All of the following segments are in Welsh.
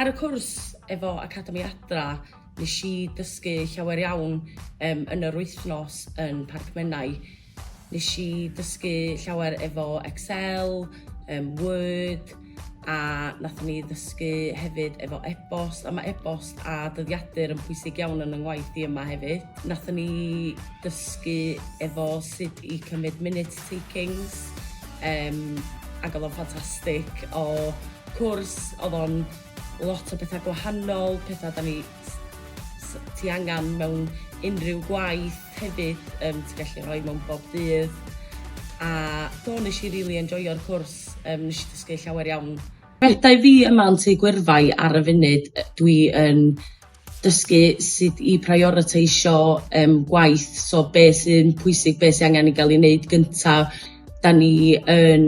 Ar y cwrs efo Academi Adra, nes i dysgu llawer iawn um, yn yr wythnos yn Parc Menai. Nes i dysgu llawer efo Excel, um, Word, a nath ni ddysgu hefyd efo e-bost, a mae e-bost a dyddiadur yn pwysig iawn yn yng ngwaith di yma hefyd. Nath ni dysgu efo sut i cymryd minute takings, um, ac oedd o'n ffantastig o cwrs, oedd o'n lot o bethau gwahanol, pethau da ni ti angen mewn unrhyw gwaith hefyd, um, ti'n gallu rhoi mewn bob dydd. A do, nes i really enjoyo'r cwrs, um, nes i ddysgu llawer iawn. Rhedai fi yma yn Tŷ Gwyrfai ar y funud, dwi yn dysgu sut i prioriteisio yym gwaith, so be sy'n pwysig, be sy angen i gael ei wneud gynta'. 'Da ni yn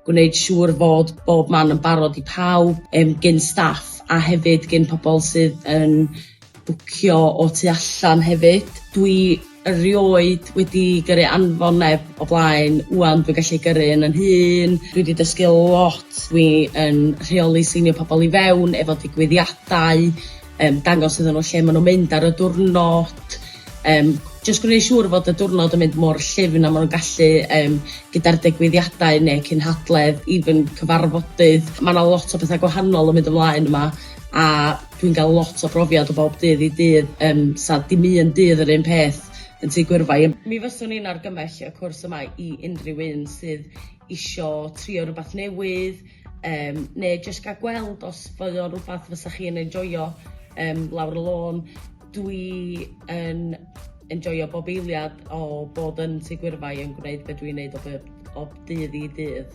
gwneud siŵr fod bob man yn barod i pawb yym gin staff a hefyd gin pobol sydd yn bwcio o tu allan hefyd. Dwi Erioed wedi gyrru anfon neb o blaen, ŵan dwi'n gallu gyrru un yn hun, dwi wedi dysgu lot, dwi yn rheoli seinio pobl i fewn efo digwyddiadau, yym dangos iddyn nhw lle maen nhw'n mynd ar y diwrnod, yym jyst gwneud siŵr fod y diwrnod yn mynd mor llyfn a maen nhw'n gallu yym gyda'r digwyddiadau neu cynhadledd, even cyfarfodydd, ma' 'na lot o bethau gwahanol yn mynd ymlaen yma a Dwi'n gael lot o brofiad o bob dydd i dydd yym sa dim un dydd yr un peth yn Tŷ Gwyrfai. Mi fyswn i'n argymell y cwrs yma i unrhyw un sydd isio trio rywbeth newydd yym neu jyst gael gweld os fydde o'n rywbeth fysa chi'n enjoio yym lawr y lôn. Dwi yn enjoio bob eiliad o bod yn Tŷ Gwyrfai yn gwneud be dwi'n neud o bob o dydd i dydd.